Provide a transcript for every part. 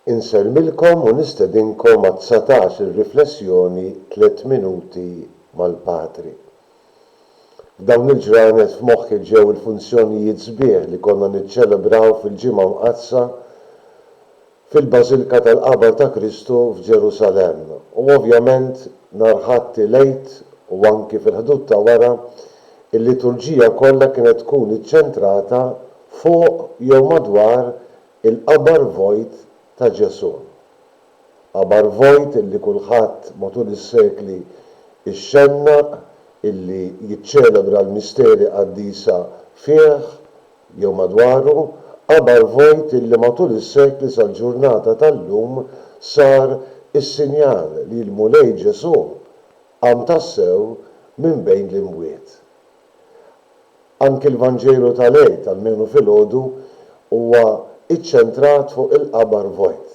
Insellmilkom u nistedinkom għat-dsatax ir-riflessjoni Tliet Minuti mal-Patri. F'dawn il-ġranet f'moħħi ġew il-funzjonijiet sbieħ li konna niċċelebraw fil-Ġimgħa Mqaddsa, fil-Bażilka tal-Qabar ta' Kristu f'Ġerusalemm u ovvjament nhar Ħadd il-Għid u anki fil-ħdud ta' wara, il-liturġija kollha kienet tkun iċċentrata fuq jew madwar il-qabar vojt ta' Ġesù. Qabar vojt illi kulħadd matul is-sekli xxennaq illi jiċċelebra l-misteri qaddisa fih jew madwaru, qabar vojt illi matul is-sekli sal-ġurnata tal-lum sar is-sinjal li l-Mulej Ġesù qam tassew minn bejn l-imwiet. Anki l-Vanġelu tal-Għid, almenu filgħodu, huwa iċċentrat fuq il-qabar vojt.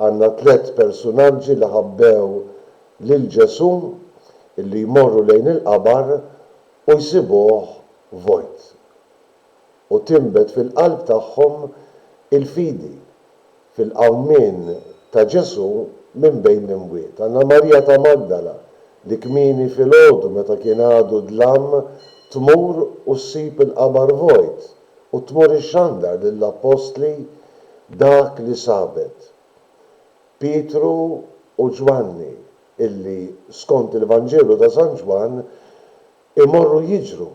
Għandna tliet persunaġġi li ħabbew lil Ġesù illi jmorru lejn il-qabar u jsibuh vojt, u tinbet fil-qalb tagħhom il-fidi fil-qawmien ta' Ġesù minn bejn l-imwiet. Għandna Marija ta' Magdala li kmieni filgħodu meta kien għadu dlam tmur u ssib il-qabar vojt u tmur ixxandar lill-appostli dak li sabet. Pietru u Ġwanni illi, skont il-Vanġelu ta' San Ġwann, Imorru jiġru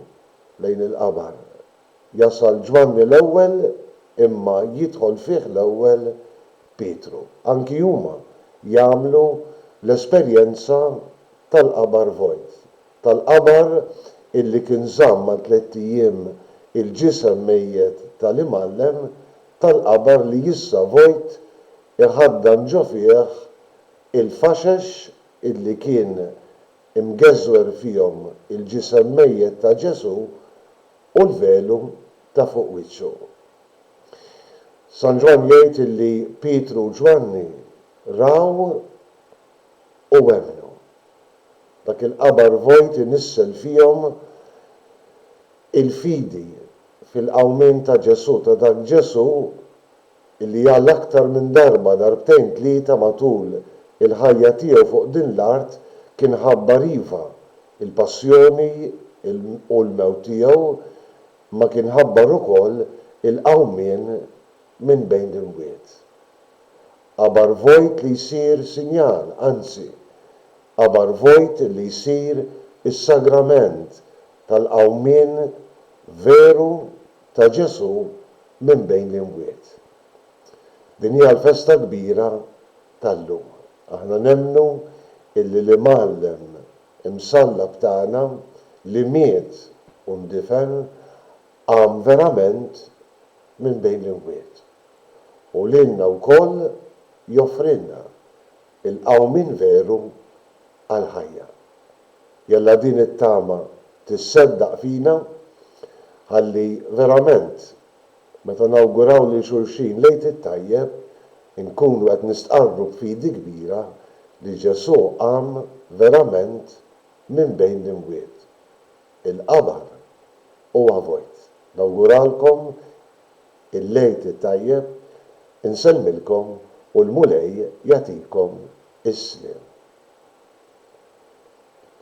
lejn il-qabar. Jasal Ġwanni l-ewwel imma jidħol fih l-ewwel Pietru. Anki huma jagħmlu l-esperjenza tal-qabar vojt. Tal-qabar illi kien żamm għal tlett ijiem il-ġisem mejjet tal-Imgħallem, tal-qabar li issa vojt iħaddan ġo fih il-faxex illi kien imgeżwer fihom il-ġisem mejjet ta' Ġesù u l-velu ta' fuq wiċċu. San Ġwann jgħid illi Pietru u Ġwanni raw u emmnu. Dak il-qabar vojt inissel fihom il-fidi fil-qawmien ta' Ġesù, ta' dak Ġesù li għal aktar minn darba, darbtejn tlieta matul il-ħajja tiegħu fuq din l-art, kien ħabbar iva, il-passjoni u l-mewt tiegħu, imma kien ħabbar ukoll il-qawmien minn bejn l-imwiet. Qabar vojt li jsir sinjal, anzi, qabar vojt li jsir is-sagrament tal-qawmien veru ta' Ġesù minn bejn l-imwiet. Din hija l-festa kbira tal-lum. Aħna nemmnu illi l-Imgħallem imsallab tagħna li miet u ndifen qam verament minn bejn l-imwiet. U lilna wkoll joffrilna il-qawmien veru għall-ħajja. Jalla din it-tama tisseddaq fina ħalli verament meta nawguraw lil xulxin l-Għid it-Tajjeb inkunu qed nistqarru b'fidi kbira li Ġesù qam verament minn bejn l-imwiet. Il-qabar huwa vojt. Nawguralkom il-Għid it-Tajjeb, insellmilkom u l-Mulej jagħtikom is-sliem.